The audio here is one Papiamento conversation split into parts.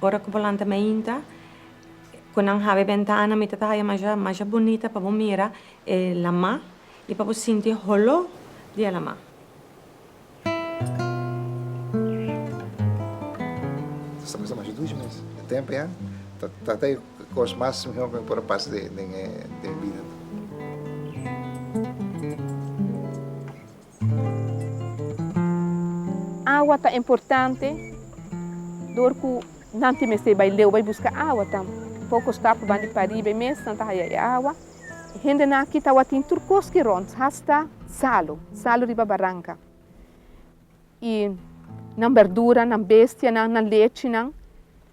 Ora ku bo lanta mainta ku nan hab'e bentana mi ta ta haya masha masha bunita pa bo mira e lama i pa bo sinti e holó di e lama. Cu e cos mas mihor cu mi por a pasa den e bida ta. Awa ta importante dor cu nan tin mester bay leu bay busca awa tambe. Poco stap pa bandi pariba e mes nan ta haya e awa. E hendenan aki tawatin tur cos ki rond hasta salo, salo riba baranca. Y nan berduranan, bestianan, nan lechinan.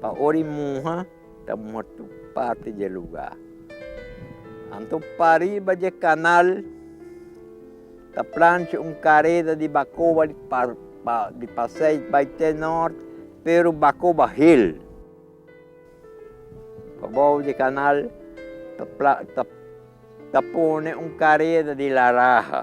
Pa ora i muha, ta muha tur parti dje lugá. Anto pariba dje kanal ta plancha un kareda di bakoba di pa pa di pasei bai te nòrt, pero bakoba hel. Pa bou di kanal ta pla ta ta pone un kareda di laraha.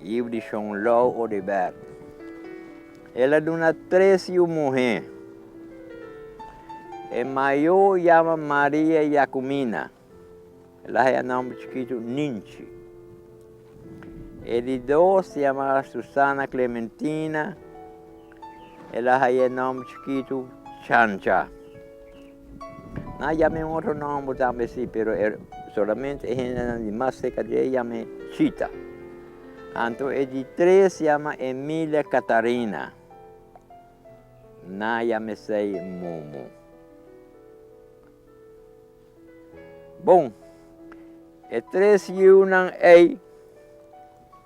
Yiu di Shon Lou Audibert. El a duna tres yiu muhé. E mayo yama Maria Jacumina. El a haña nòmber chikitu Ninchi. E di dos yama Susana Clementina. El a haña e nòmber chikitu Chancha. Nan a yama e un otro nomber tambe si, pero e solamente e hendenan di mas cerca di e yama e Chita. Anto e di tres yama Emilia Catarina. Nan a yama esey Momo. Bon, e tres yiunan ey.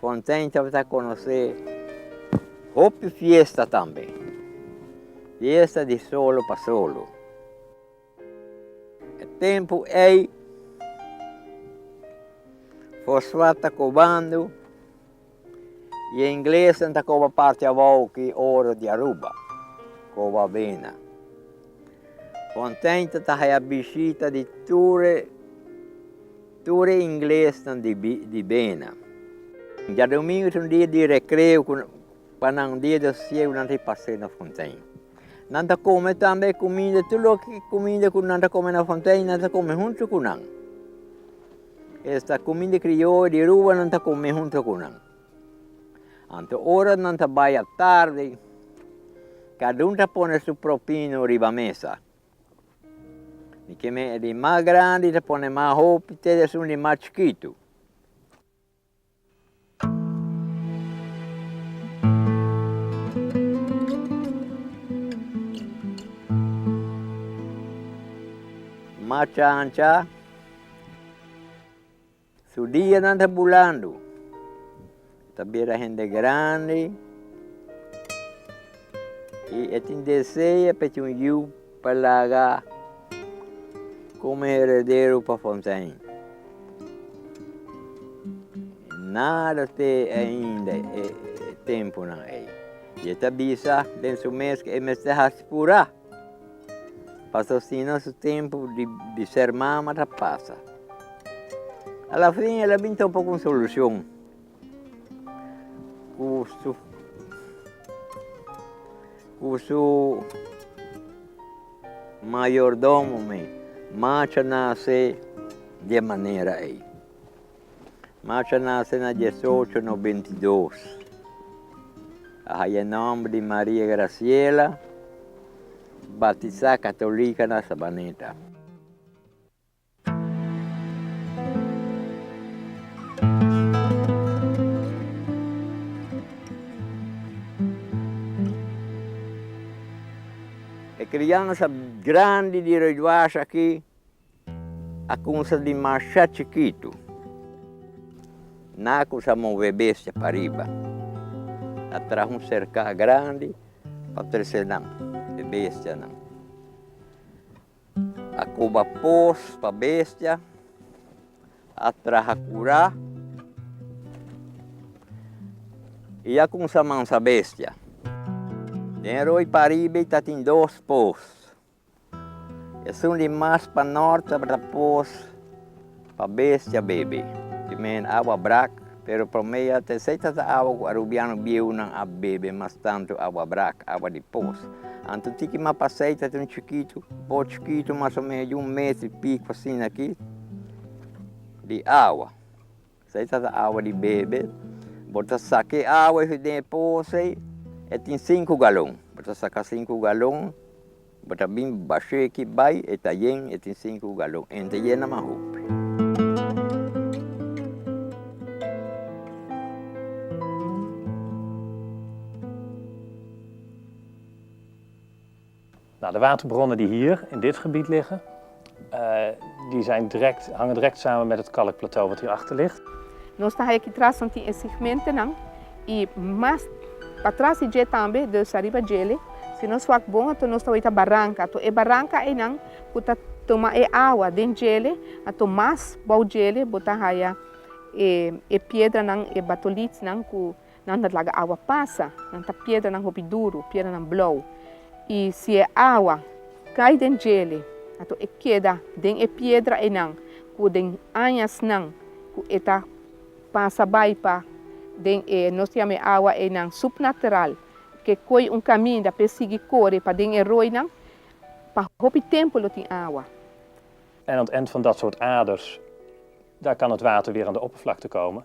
Contento pa ta conoce hopi fiesta tambe. Fiesta di solo pa solo. E tempo ey Fosfat ta cobando y e ingleses ta coba parti abao ki oro di Aruba, coba bena. Contento ta haya bishita di tur e. Tur e inglesnan di bena. Djadomingo ta un dia di rekreo ku pa nan un dia di sosiegu nan ta pas'é na fontein. Nan ta kome tambe e kuminda, tur loke kuminda ku nan ta kome na fontein nan ta kome huntu ku nan. Esta kuminda krioyo di Aruba nan ta kome huntu ku nan. Anto ora nan ta bai a tardi, kadun ta pone su propino riba mesa. Di ke men di mas grandi ta pone mas hopi te esun di mas chikitu. Macha ancha. Su dianan ta bulando. E ta bira hende grandi i e tin desea pa e tin un yu pa laga komo heredero pa Fontein. Nada te ainda e tempunan ei. I e ta bisa den su mes ku e mester haspurá. Patrocina su tempu di ser mama ta pasa. A la fin el a bin topa ku un solushon ku su ku su mayordomo mi macha nase di e manera ei. Macha nase na diesocho no bintidos. A haya e nomber di Maria Graciela, batisa katolika na Sabaneta. E kriansa grandi di Rui Duarte aki. A kunsa di marsha chikitu. Naku sa move bestia pa riba. A traha un serka grandi pa trese nan, e bestianan. A koba pos pa bestia, a traha kura i a kunsa mansa bestia. Den roi pariba i tatin dos pos. Esun di mas pa nort ta repos pa bestia bebe. Primer awa brak, pero promea ta esei ta ta awa cu Arubiano bieunan a bebe mas tanto awa brak, awa di pos. Anto tiki ma pa esei ta tin chikitu, bo chikitu mas o menos di un mes di pico asina aki di awa. Sa e tata awa di bebe. Bo ta saka e awa ey den e poos ey. E tin sinku galon. Bo ta saka sinku galon. Bo ta bin basha eki bai. E ta yen, e tin sinku galon. E no ta yena mas hopi. Na de waterbronnen di hier in dit gebied liggen, di zijn direct, hangen direct samen met het kalkplateau wat hier achter ligt. Nos ta haja aki tras nan tin e segmentenan y mas pa tras di dje tambe, dus ariba djele, si nos wak bon ato nos ta wak ta baranka, ato e baranka eynan cu ta tuma e awa den djele, ato mas bou djele bo ta haja e e piedranan, e batolitsnan cu Nan ta laga awa pasa, nan ta piedranan hopi duru, piedranan blou. I si e awa kai den djele, anto e keda den e piedra einan ku den añasnan ku e ta pasa bai pa den e, nos ta yama e awa einan supnateral, ke koi un kaminda p'e sigui kore pa den e roinan, pa hopi tempu lo tin awa. En aan het eind van dat soort aders, daar kan het water weer aan de oppervlakte komen.